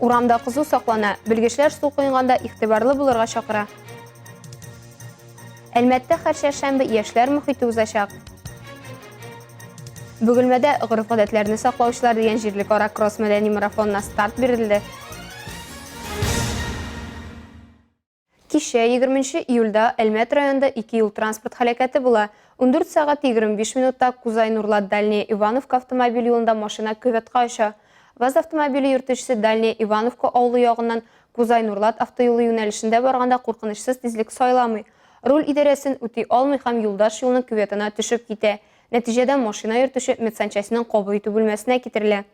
Урамда кызу саклана, белгечләр су коенганда игътибарлы булырга чакыра. Әлмәттә һәр чәршәмбе яшьләр мөхите узачак. Бөгелмәдә гореф-гадәтләрне саклаучылар дигән җирлекара кросс-мәдәни марафонына старт бирелде. Кичә, егерменче июльдә, Әлмәт районында ике юл-транспорт һәлакәте була. Ундүрт сәгать егерме биш минутта Кузай-Нурлат Дальняя Ивановка автомобиль юлында машина кюветка оча. ВАЗ автомобиле йөртүчесе Дальняя Ивановка авылы ягыннан Кузай-Нурлат автоюлы юнәлешендә барганда куркынычсыз тизлек сайламый, руль идарәсен үти алмый һәм юлдаш юлның кюветына төшеп китә. Нәтиҗәдә машина йөртүче медсанчастьның кабул итү бүлмәсенә китерелә.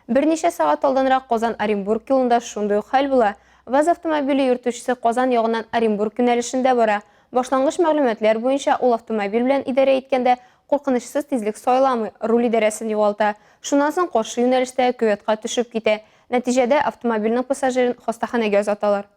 Берничә сәгать алданрак Казан-Оренбург юлында шундый ук хәл була. ВАЗ автомобиле йөртүчесе Казан ягыннан Оренбург юнәлешендә бара. Башлангыч мәгълүматлар буенча, ул автомобиль белән идарә иткәндә куркынычсыз тизлек сайламый, руль идарәсен югалта. Шуннан соң каршы юнәлештәге кюветка төшеп китә. Нәтиҗәдә, автомобильнең пассажирын хастаханәгә озаталар.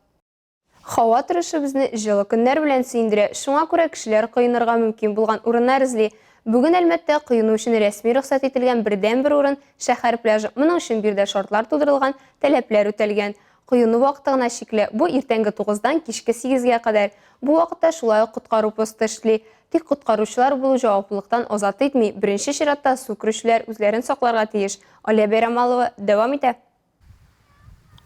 Һава торышы безне җылы көннәр белән сөендерә, шуңа күрә кешеләр коенырга мөмкин булган урыннар эзли. Бүген Әлмәттә коену өчен рәсми рөхсәт ителгән бердәнбер урын, шәһәр пляжы. Моның өчен биредә шартлар тудырылган, таләпләр үтәлгән. Коену вакыты гына чикле, бу иртәнге тугыздан кичке сигезгә кадәр. Бу вакытта шулай ук коткару посты эшли. Тик коткаручылар булу җаваплылыктан азат итми, беренче чиратта су керүчеләр үзләрен сакларга тиеш, Алия Бәйрамалова дәвам итә.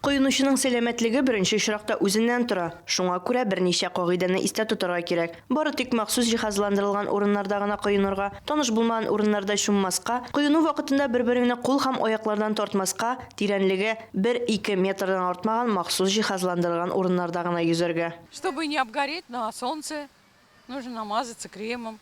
Коенучының сәламәтлеге беренче очракта үзеннән тора. Шуңа күрә берничә кагыйдәне истә тотарга кирәк. Бары тик махсус җиһазландырылган урыннарда гына коенырга, таныш булмаган урыннарда чуммаска, коену вакытында бер-береңне кул һәм аяклардан тартмаска, тирәнлеге бер-ике метрдан артмаган махсус җиһазландырылган урыннарда гына йөзәргә. Чтобы не обгореть на солнце, нужно намазаться кремом.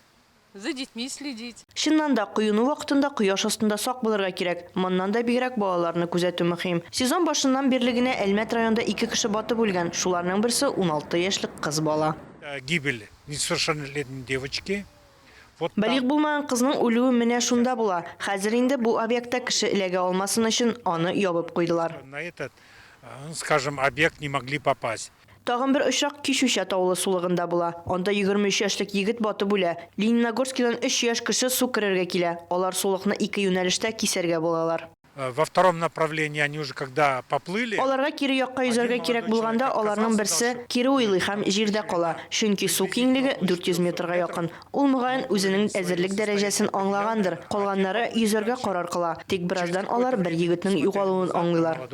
За детьми следить. Чыннан да, коену вакытында кояш астында сак булырга кирәк. Моннан да бигрәк балаларны күзәтү мөһим. Сезон башыннан бирле генә Әлмәт районында ике кеше батып үлгән, шуларның берсе, уналты яшьлек кыз бала. Гибель несовершеннолетней девочки. Вот там. Балигъ булмаган кызның үлүе менә шунда була. Хәзер инде бу объектта кеше эләгә алмасын өчен, аны ябып куйдылар. На этот, скажем, объект не могли попасть. Тагын бер очрак Кич Үчә Таулы сулыгында була. Анда 23 яшьлек егет батып үлә. Лениногорскидан өч яшь кеше су керергә килә. Алар сулыкны ике юнәлештә кисәргә булалар. Во втором направлении они уже когда поплыли. Аларга кире якка йөзәргә кирәк булганда, аларның берсе кире уйлый һәм җирдә кала, чөнки су киңлеге 400 метрга якын. Ул, мөгаен, үзенең әзерлек дәрәҗәсен аңлагандыр. Калганнары йөзәргә карар кыла. Тик бераздан алар бер егетнең югалуын аңлыйлар.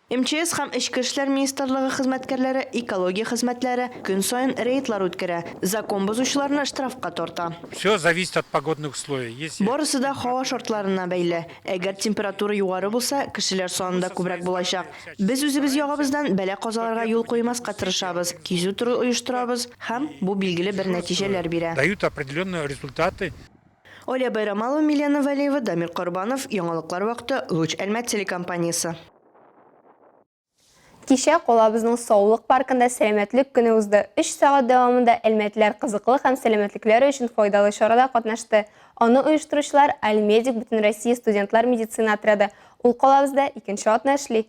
МЧС һәм Эчке эшләр министрлыгы хезмәткәрләре экология хезмәтләре көн саен рейдлар үткәрә, закон бозучыларны штрафка тарта. Все зависит от погодных условий, если температура. Барысы да һава шартларына бәйле. Әгәр температура югары булса, кешеләр саны да күбрәк булачак. Без үзебез ягыбыздан бәла-казаларга юл куймаска тырышабыз, кизү туры оештырабыз һәм бу билгеле бер нәтиҗәләр бирә. Дают определенные результаты. Алия Байрамалова, Милена Вәлиева, Дамир Корбанов, яңалыклар вакыты, Луч Әлмәт телекомпаниясе. Кичә калабызның саулык паркында сәламәтлек көне узды. Өч сәгать дәвамында әлмәтләр кызыклы һәм сәламәтлекләре өчен файдалы чарада катнашты. Аны оештыручылар, Альмедик бөтенроссия студентлар медицина отряды. Ул калабызда икенче атна эшли.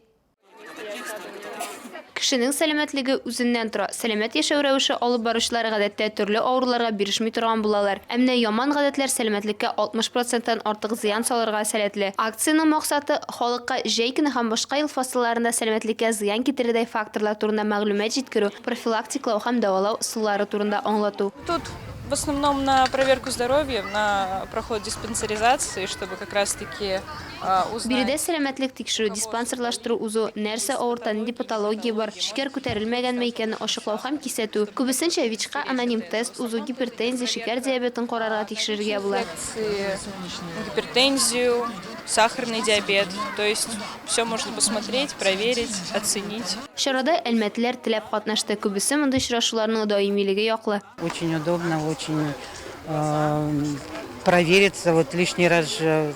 Кешенең сәламәтлеге үзеннән тора. Сәламәт яшәү рәвеше алып баручылар гадәттә төрле авыруларга бирешми торган булалар. Ә менә яман гадәтләр сәламәтлеккә 60 проценттан артык зыян салырга сәләтле. Акциянең максаты, халыкка җәй көне һәм башка ел фасылларында сәламәтлеккә зыян китерердәй факторлар турында мәгълүмат җиткерү, профилактиклау һәм дәвалау ысуллары турында аңлату. Тут в основном на проверку здоровья, на проход диспансеризации, чтобы как раз таки. Биредә сәламәтлек тикшерү, диспансерлаштыру узу, нәрсә авырта, нинди патология бар, шикәр күтәрелмәгәнме икәнне ачыклау һәм кисәтү. Күбесенчә ВИЧка аноним тест узу, гипертензия, шикәр диабетын карарга, тикшерергә була. Гипертензию, сахарный диабет, то есть всё можно посмотреть, проверить, оценить. Чарада әлмәтлеләр теләп катнашты, күбесе мондый очрашуларның даимилеге яклы. Очень удобно, очень провериться, вот лишний раз.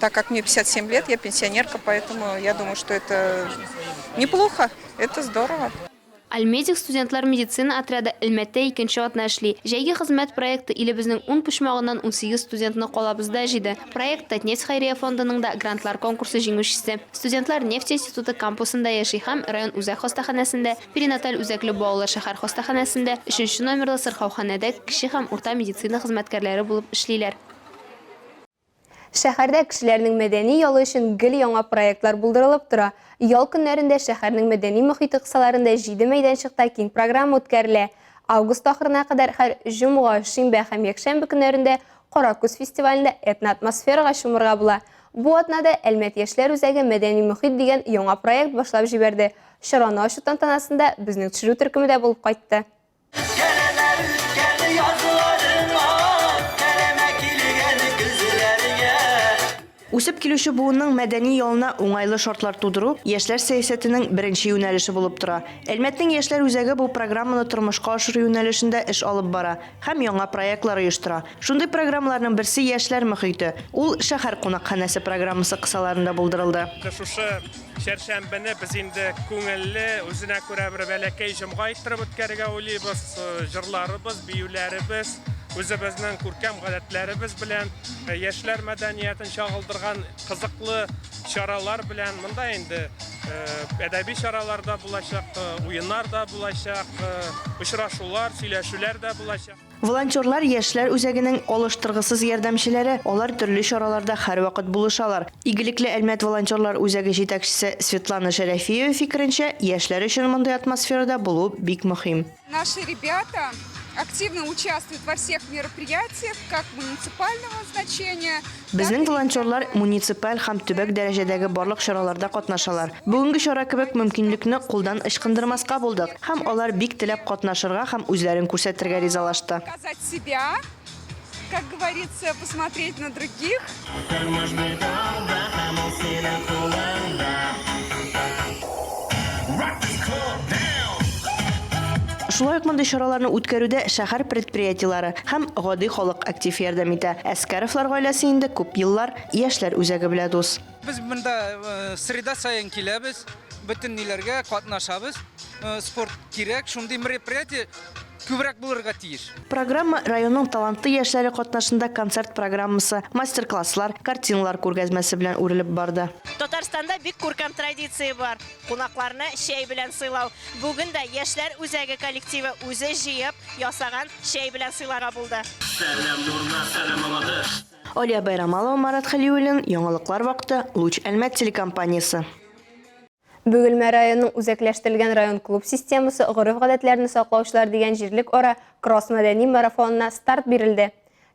Так как мне 57 лет, я пенсионерка, поэтому я думаю, что это неплохо, это здорово. Альмедик студентлар медицина отряды Әлмәттә икенче атна эшли. Җәйге хезмәт проекты илебезнең ун почмагыннан 18 студентны калабызда җыйды. Проект Татнефть хәйрия фондының да грантлар конкурсы җиңүчесе. Студентлар нефть институты кампусында яши һәм район үзәк хастаханәсендә, перинаталь үзәкле балалар шәһәр хастаханәсендә, өченче номерлы сырхауханәдә кече һәм урта медицина хезмәткәрләре булып эшлиләр. Шәһәрдә кешеләрнең мәдәни ялы өчен гел яңа проектлар булдырылып тора. Ял көннәрендә шәһәрнең мәдәни мохите кысаларында җиде мәйданчыкта киң программа үткәрелә. Август ахырына кадәр һәр җомга, шимбә һәм якшәмбе көннәрендә Кара күз фестивалендә этноатмосферага чумырга була. Бу атнада Әлмәт яшьләр үзәге Мәдәни мохит дигән яңа проект башлап җибәрде. Чараны ачу тантанасында безнең төшерү төркеме дә булып кайтты. Кәләдә үткән язларыма, Кәләмә килгән көзләргә. Үсеп килүче буынның мәдәни ялына уңайлы шартлар тудыру, яшьләр сәясәтенең беренче юнәлеше булып тора. Әлмәтнең яшьләр үзәге бу программаны тормышка ашыру юнәлешендә эш алып бара һәм яңа проектлар оештыра. Шундый программаларның берсе Яшьләр мохите, ул Шәһәр кунакханәсе программасы кысаларында булдырылды. Шушы Чәршәмбене без инде күңелле, үзенә күрә бер бәләкәй җомга иттереп үткәрергә уйлыйбыз. Җырларыбыз, биюләребез, үзебезнең күркәм гадәтләребез белән, яшьләр мәдәниятен чагылдырган кызыклы чаралар белән. Монда инде әдәби чаралар да булачак, уеннар да булачак, очрашулар, сөйләшүләр дә булачак. Волонтерлар, яшьләр үзәгенең алыштыргысыз ярдәмчеләре, алар төрле чараларда һәрвакыт булышалар. Игелекле Әлмәт волонтерлар үзәге җитәкчесе Светлана Шәрәфиева фикеренчә, яшьләр өчен мондый атмосферада булу бик мөһим. Наши ребята активно участвуют во всех мероприятиях, как муниципального значения, Безнең волонтерлар муниципаль һәм төбәк дәрәҗәдәге барлык чараларда катнашалар. Бүгенге чара кебек мөмкинлекне кулдан ычкындырмаска булдык, һәм алар бик теләп катнашырга һәм үзләрен күрсәтергә ризалашты. Шулай ук мондый чараларны үткәрүдә шәһәр предприятиеләре һәм гади халык актив ярдәм итә. Әскәровлар гаиләсе инде күп еллар яшьләр үзәге белә дус. Без монда среда саен киләбез, бөтен ниләргә катнашабыз. Спорт кирәк, шундый мероприятие. күбрәк булырга тиеш. Программа районның талантлы яшьләре катнашында концерт программасы, мастер-класслар, картиналар күргәзмәсе белән үрелеп барды. Татарстанда бик күркәм традиция бар, кунакларны чәй белән сыйлау. Бүген дә яшьләр үзәге коллективы үзе җыеп ясаган чәй белән сыйларга булды. Сәлам нурга сәлам Мамадыш. Алия Байрамалова, Марат Хәлиуллин, Яңалыклар вакыты, Луч Әлмәт телекомпаниясе. Бөгелмә районының үзәкләштерелгән район клуб системасы гореф-гадәтләрне саклаучылар дигән җирлекара кросс-мәдәни марафонына старт бирелде.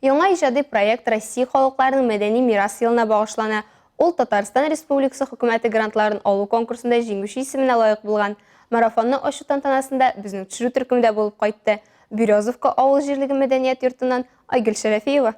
Яңа иҗади проект Россия халыкларының мәдәни мирас елына багышлана, ул Татарстан Республикасы Хөкүмәте грантларын алу конкурсында җиңүче исеменә лаек булган. Марафонны ачу тантанасында безнең төшерү төркемдә булып кайтты Березовка авыл җирлеге мәдәният йортыннан Айгөл Шәрәфиева.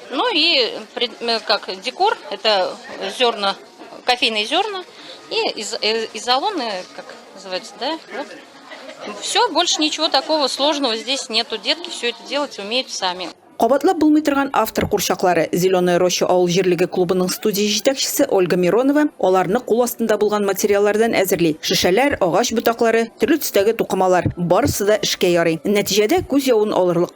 Ну и э, как декор, это зерна, кофейные зерна и из, э, изолоны, как называется, да, вот. Все, больше ничего такого сложного здесь нету. Детки все это делать умеют сами. Кабатлап булмый торган автор курчаклары Зеленая роща авыл җирлеге клубының студия җитәкчесе Ольга Миронова аларны кул астында булган материаллардан әзерли. Шешәләр, агач ботаклары, төрле төстәге тукымалар барысы да эшкә ярый. Нәтиҗәдә күз явын алырлык.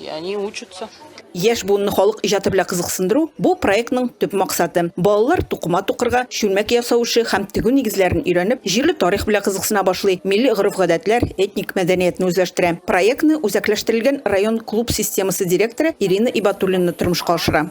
И они учатся. Яшь буынны халык иҗаты белән кызыксындыру бу проектның төп максаты. Балалар тукыма тукырга, чүлмәк ясау эше һәм тегү нигезләрен өйрәнеп, җирле тарих белән кызыксына башлый, милли гореф-гадәтләр, этник мәдәниятне үзләштерә. Проектны үзәкләштерелгән район клуб системасы директоры Ирина Ибатуллина тормышка ашыра.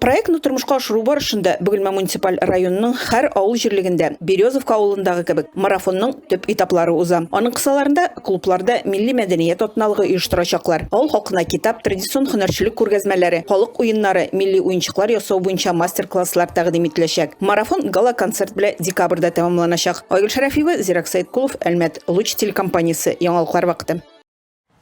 Проектны тормышка ашыру барышында Бөгелмә муниципаль районының һәр авыл җирлегендә, Березовка авылындагы кебек, марафонның төп этаплары уза. Аның кысаларында клубларда милли мәдәният атналыгы оештырачаклар. Авыл халкына китап, традицион һөнәрчелек күргәзмәләре, халык уеннары, милли уенчыклар ясау буенча мастер-класслар тәкъдим ителәчәк. Марафон гала-концерт белән декабрьдә тәмамланачак. Айгөл Шәрәфиева, Зирәк Сәеткулов, Әлмәт, Луч телекомпаниясе, Яңалыклар вакыты.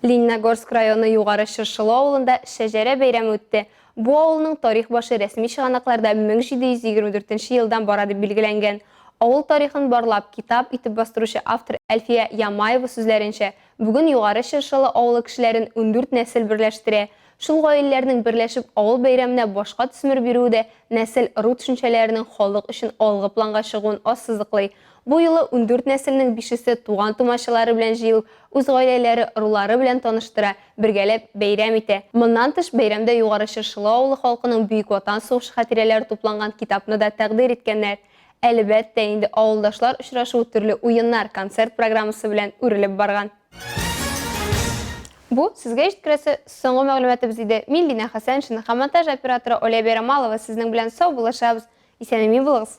Лениногорск районы Югары Чыршылы авылында Шәҗәрә бәйрәме үтте. Бу авылның тарих башы рәсми чыганакларда 1724 елдан бара дип билгеләнгән. Авыл тарихын барлап, китап итеп бастыручы автор Әлфия Ямаева сүзләренчә, бүген Югары Чыршылы авылы кешеләрен ундүрт нәсел берләштерә. Шул гаиләләрнең берләшеп авыл бәйрәменә башка төсмер бирүе дә нәсел-ыру төшенчәләренең халык өчен алгы планга чыгуын ассызыклый. Бу юлы ундүрт нәселнең бишесе туган-тумачалары белән җыелып, үз гаиләләре, ырулары белән таныштыра, бергәләп бәйрәм итә. Моннан тыш, бәйрәмдә Югары Чыршылы авылы халкының Бөек Ватан сугышы хатирәләре тупланган китапны да тәкъдир иткәннәр. Әлебәттә инде, авылдашлар очрашуы төрле уеннар, концерт программасы белән үрелеп барган. Бу, сезгә җиткерәсе соңгы мәгълүматыбыз иде. Мин Линә Хәсәншина һәм монтаж операторы Оля Бәйрәмалова сезнең белән сау булышабыз. Исән-имин булыгыз!